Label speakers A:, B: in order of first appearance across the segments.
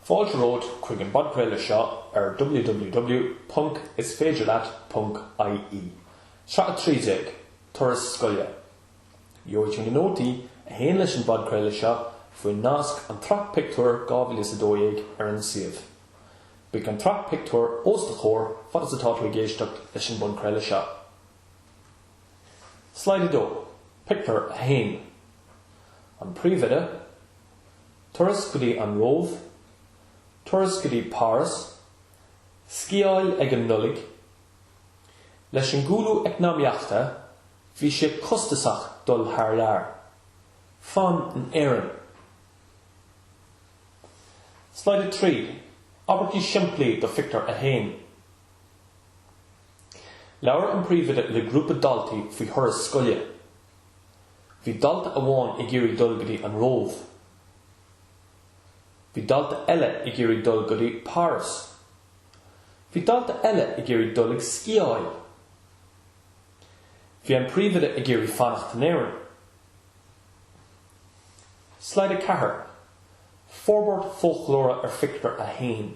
A: Fáilte romhat chuig an bpodchraoladh seo ar www.isféidirleat.ie. Sraith 13, Turas Scoile. Gheobhaidh tú na nótaí a théann leis an bpodchraoladh seo faoin nasc An tSraith Pictiúr 2012 ar an suíomh. Beidh an tsraith pictiúr os do chomhair fad is atá tú ag éisteacht leis an bpodchraoladh seo. Slide 2, Pictiúr 1 An príomhoide, turas go dtí an Róimh, turas go dtí Páras, sciáil ag an Nollaig Leis an gcúlú eacnamaíochta bhí sé costasach dul thar lear. Fan in Éirinn. Slide 3, Abairtí simplí do Phictiúr 1. Labhair an príomhoide le grúpa daltaí faoi thuras scoile. Bhí dalta amháin ag iarraidh dul go dtí an Róimh. Bhí dalta eile ag iarraidh dul go dtí Páras. Bhí dalta eile ag iarraidh dul ag sciáil. Bhí an príomhoide ag iarraidh fanacht in Éirinn. Slide 4, Forbairt Foclóra ar Phictiúr 1.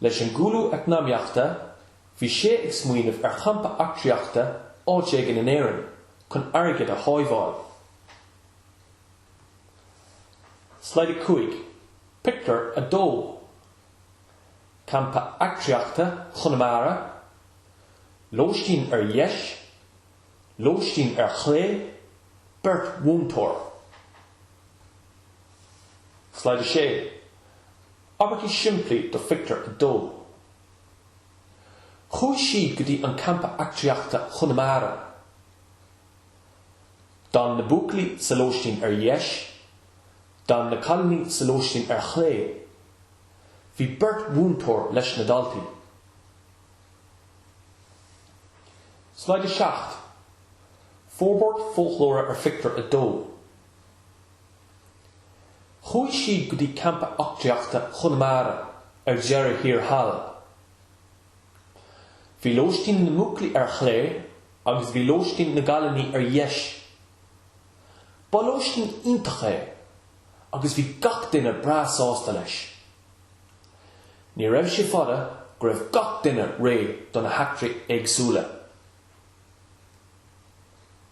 A: Leis an gcúlú eacnamaíochta, bhí sé ag smaoineamh ar champa eachtraíochta áit éigin in Éirinn chun airgead a shábháil. Slide 5, Pictiúr 2, Campa Eachtraíochta Chonamara, lóistín ar dheis, lóistín ar chlé, beirt mhúinteoir. Slide 6, Abairtí simplí do Phictiúr a Dó! Chuaigh siad go dtí an Campa Eachtraíochta Chonamara. D'fhan na buachaillí sa lóistín ar dheis. D'fhan na cailíní sa lóistín ar chlé. Bhí beirt mhúinteoir leis na daltaí. Slide 7, Forbairt foclóra ar Phictiúr a Dó. Chuaigh siad go dtí Campa Eachtraíochta Chonamara ar deireadh thiar thall. Bhí lóistín na mbuachaillí ar chlé agus bhí lóistín na gcailíní ar dheis. Ba lóistín iontach é agus bhí gach duine breá sásta leis. Ní raibh sé fada go raibh gach duine réidh do na heachtraí éagsúla.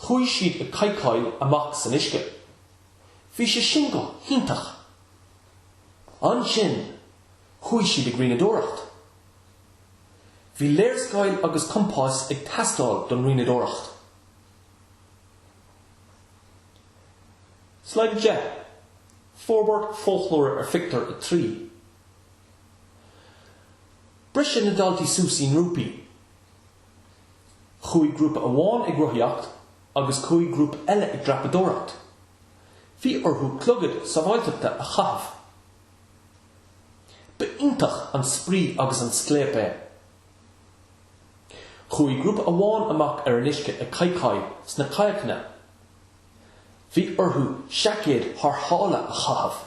A: Chuaigh siad ag cadhcáil amach san uisce. Bhí sé sin go hiontach. Ansin, chuaigh siad ag rianadóireacht. Bhí léarscáil agus compás ag teastáil don rianadóireacht. Slide 10, Forbairt foclóra ar Phictiúr 3. Briseadh na daltaí suas i ngrúpaí. Chuaigh grúpa amháin ag rothaíocht agus chuaigh grúpa eile ag dreapadóireacht. Bhí orthu clogad sábháilteachta a chaitheamh. Ba iontach an spraoi agus an scléip é. Chuaigh grúpa amháin amach ar an uisce ag cadhcáil sna cadhcanna. Bhí orthu seaicéid tharrthála a chaitheamh.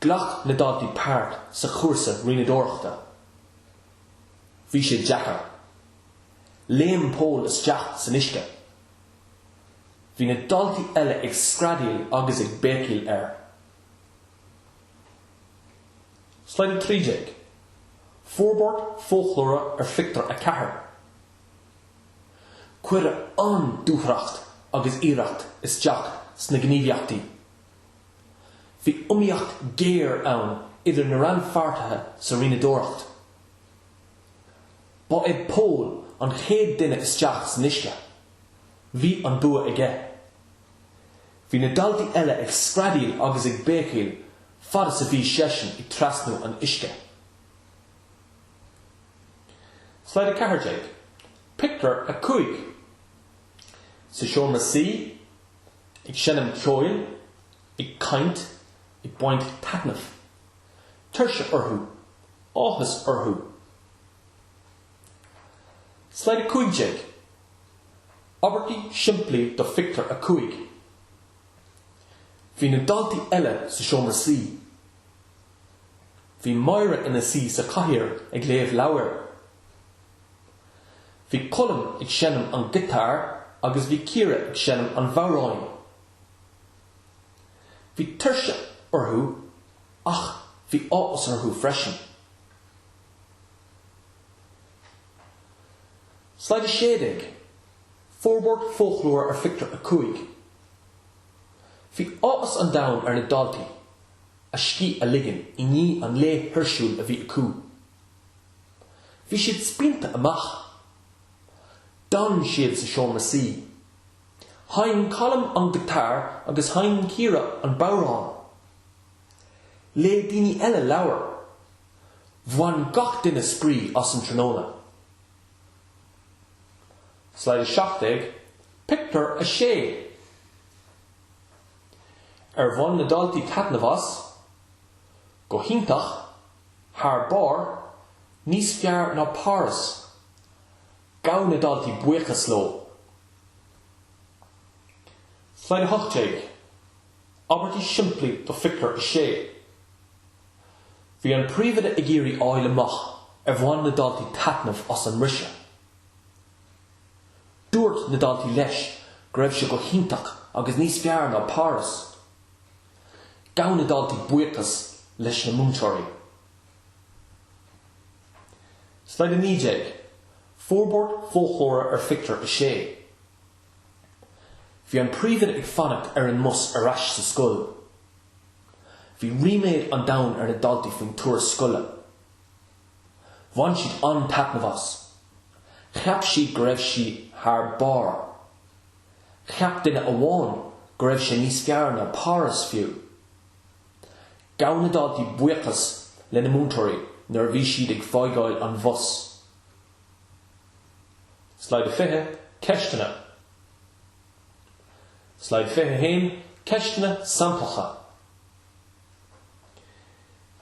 A: Ghlac na daltaí páirt sa chúrsa rianadóireachta. Bhí sé deacair. Léim Pól isteach san uisce. Bhí na daltaí eile ag screadaíl agus ag béicíl air. Slide 13, Forbairt foclóra ar Phictiúr 4. Cuireadh an-dúthracht agus iarracht isteach sna gníomhaíochtaí. Bhí iomaíocht ghéar ann idir na rannpháirtithe sa rianadóireacht. Ba é Pól an chéad duine isteach san uisce. Bhí an bua aige. Bhí na daltaí eile ag screadaíl agus ag béicíl fad is a bhí seisean ag trasnú an uisce. Slide 14, Pictiúr 5 Sa seomra suí, ag seinm ceoil, ag caint, ag baint taitnimh. Tuirse orthu. Áthas orthu. Slide 15, Abairtí simplí do Phictiúr 5 Bhí na daltaí eile sa seomra suí. Bhí Máire ina suí sa chathaoir ag léamh leabhair. Bhí Colm ag seinm an ghiotáir agus bhí Ciara ag seinm an bhodhráin. Bhí tuirse orthu ach bhí áthas orthu freisin. Slide 16, Forbairt foclóra ar Phictiúr 5 Bhí áthas an domhain ar na daltaí a scíth a ligean i ndiaidh an lae thuirsiúil a bhí acu. Bhí siad spíonta amach. D'fhan siad sa seomra suí. Sheinn Colm an guitar agus sheinn Ciara an bodhrán. Léigh daoine eile leabhair. Bhain gach duine spraoi as an tráthnóna. Slide 17, Pictiúr 6 Ar bhain na daltaí taitneamh as? Go hiontach, thar barr, níos fearr ná Páras. Gabh na daltaí buíochas leo. Slide 18, Abairtí simplí do Phictiúr 6 Bhí an príomhoide ag iarraidh a fháil amach ar bhain na daltaí taitneamh as an mbriseadh. Dúirt na daltaí leis go raibh sé go hiontach agus níos fearr ná Páras. Gabh na daltaí buíochas leis na múinteoirí. Slide 19, Forbairt foclóra ar Phictiúr 6 Bhí an príomhoide ag fanacht ar an mbus ar ais sa scoil. Bhí ríméad an domhain ar na daltaí faoin turas scoile. Bhain siad an-taitneamh as. Cheap siad go raibh siad thar barr. Cheap duine amháin go raibh sé níos fearr ná Páras fiú. Gabh na daltaí buíochas lena múinteoirí nuair a bhí siad ag fágáil an bhus. Slide 20, Ceisteanna Slide 21, Ceisteanna samplacha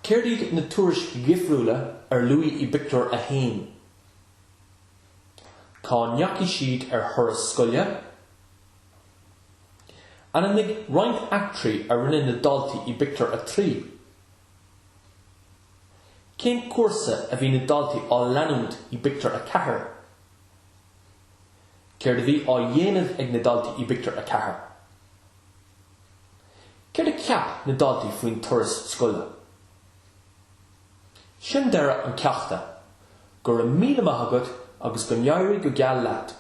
A: Céard iad na turais dhifriúla a luadh i bpictiúr 1? Cá ndeachaigh siad ar thuras scoile? Ainmnigh roinnt eachtraí a rinne na daltaí i bpictiúr a trí. Cén cúrsa a bhí na daltaí á leanúint i bpictiúr a ceathair? Céard a bhí á dhéanamh ag na daltaí i bpictiúr a ceathair? Céard a cheap na daltaí faoin turas scoile? Sin deireadh an cheachta. Go raibh míle maith agat agus go n-éirí go geal leat.